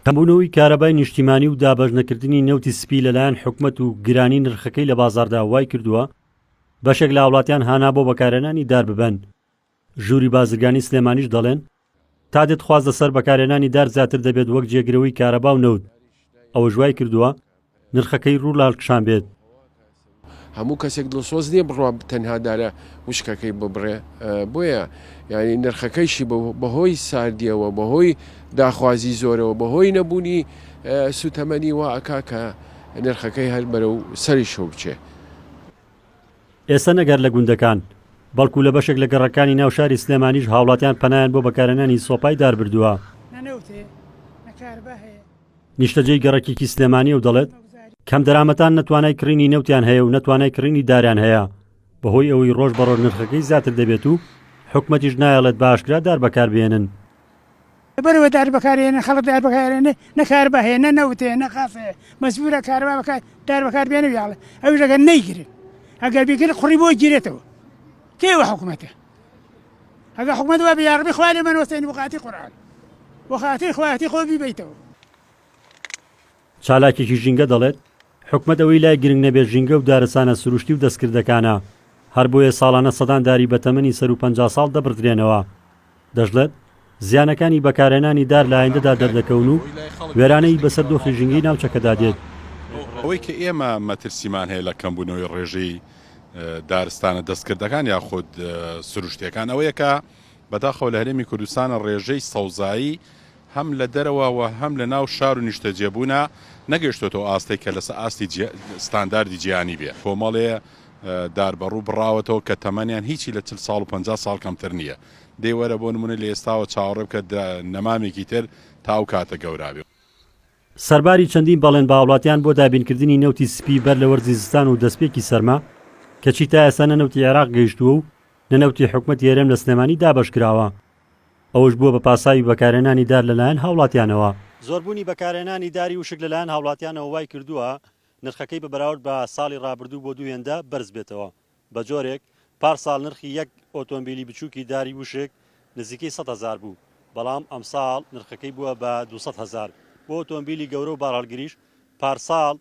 کەمبوونەوەی کارەبای نیشتیمانی و دابەش نەکردنی نەوتی سپی لەلایەن حکومت و گرانی نرخەکەی لە بازاردا وای کردووە بەشێک لە هاوڵاتیان هانا بۆ بەکارێنانی دار ببەن ژووری بازرگانی سلێمانیش دەڵێن تا دێت خواز لەسەر بەکارێنانی دار زیاتر دەبێت وەک جێگرەوەی کارەبا و نەوت ئەوە ژوای کردووە نرخەکەی ڕوو لاڵکشان بێت. هەموو کەسێک دڵسۆز نیە بڕوات تەنها دارە وشکەکەی ببڕێ بۆیە یانی نرخەکەیشی بەهۆی ساردیەوە بەهۆی داخوازی زۆرەوە بەهۆی نەبوونی سوتەمەنی وا ئەکا کە نرخەکەی هەر بەرەو سەریشەوە بچێ. ئێستا نەک هەر لە گوندەکان، بەڵکو لە بەشێک لە گەڕەکانی ناو شاری سلێمانیش هاوڵاتیان پەنایان بۆ بەکارهێنانی سۆپای دار بردووە. نیشتەجێی گەڕەکێکی سلێمانی و دەڵێت، کەمدەرامەتان نە توانای کڕینی نەوتیان هەیە و نە توانای کڕینی داریان هەیە، بەهۆی ئەوەی ڕۆژ بە ڕۆژ نرخەکەی زیاتر دەبێت و حکومەتیش نایەڵێت بە ئاشکرا دار بەکاربهێنن. لەبەرئەوە دار بەکارهێنن، خەڵک دار بەکارهێنێت، نە کارەبا هەیە، نە نەوت هەیە، نە غاز هەیە، مەجبوورە کارەبا بەکار، دار بەکاربهێنن و یاڵێ، ئەویش ئەگەر نەیگرن، ئەگەر بیگرن قوڕی بۆ ئەگیرێتەوە، کێ ئەوە حکومەتە؟ ئەگە حکومەت وابێ یاڕبی خوا لێمان وەسێنی بۆخاتی قورئان بۆخاتی خوایەتی خۆ بیبەیتەوە. چالاکێکی ژینگە دەڵێت، حکومەت ئەوەی لای گرنگ نەبێت ژینگە و دارستانە سروشتی و دەستکردەکانە، هەر بۆیە ساڵانە سەدان داری بەتەمەنی سەروو پەنجا ساڵ دەبڕدرێنەوە. دەشڵێت، زیانەکانی بەکارهێنانی دار لە ئایندەدا دەردەکەون و وێرانەیی بەسەر دۆخی ژینگەی ناوچەکەدا دێت. ئەوەی کە ئێمە مەترسیمان هەیە لە کەمبوونەوەی ڕێژەی دارستانە دەستکردەکان یاخود سروشتییەکان ئەوەیە کە بەداخەوە لە هەرێمی کوردستان ڕێژەی سەوزایی هەم لە دەرەوە و هەم لە ناو شار و نیشتەجێبوونا نەگەیشتۆتەوە ئاستێک کە لەسەر ئاستی ستانداردی جیهانی بێ کۆمەڵێ داربەڕوو بڕاوەتەوە کە تەمەنیان هیچی لە چل ساڵ و پەنجا ساڵ کەمتر نییە دەی وەرە بۆ نمونە لە ئێستاوە چاوەڕێ بکە دە نەمامێکی تر تا ئەو کاتە گەورابێ. سەرباری چەندین بەڵێن بە هاوڵاتیان بۆ دابینکردنی نەوتی سپی بەر لە وەرزی زستان و دەستپێکی سەرما، کەچی تا ئێستا نە نەوتی عێراق گەیشتووە و نە نەوتی حکومەتی هەرێم لە سلێمانی دابەشکراوە، ئەوەش بووە بە پاساوی بەکارهێنانی دار لەلایەن هاوڵاتیانەوە. زۆربوونی بەکارهێنانی داری وشک لەلایەن هاوڵاتیانەوە وایکردووە نرخەکەی بە بەراورد بە ساڵی رابردوو بۆ دوو هێندە بەرزبێتەوە. بە جۆرێک پار ساڵ نرخی یەک ئۆتۆمبیلی بچووکی داری وشک نزیکەی سەد هەزار بوو، بەڵام ئەمساڵ نرخەکەی بووە بە دوو سەد هەزار، بۆ ئۆتۆمبیلی گەورە و بارهەڵگریش پار ساڵ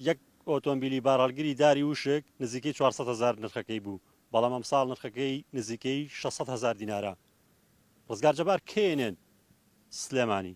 یەک ئۆتۆمبیلی بارهەڵگری داری وشک نزیکەی چوار سەد هەزار نرخەکەی بوو، بەڵام ئەمساڵ نرخەکەی نزیکەی شەش سەد هەزار دینارە. ڕزگار جەبار، knn، سلێمانی.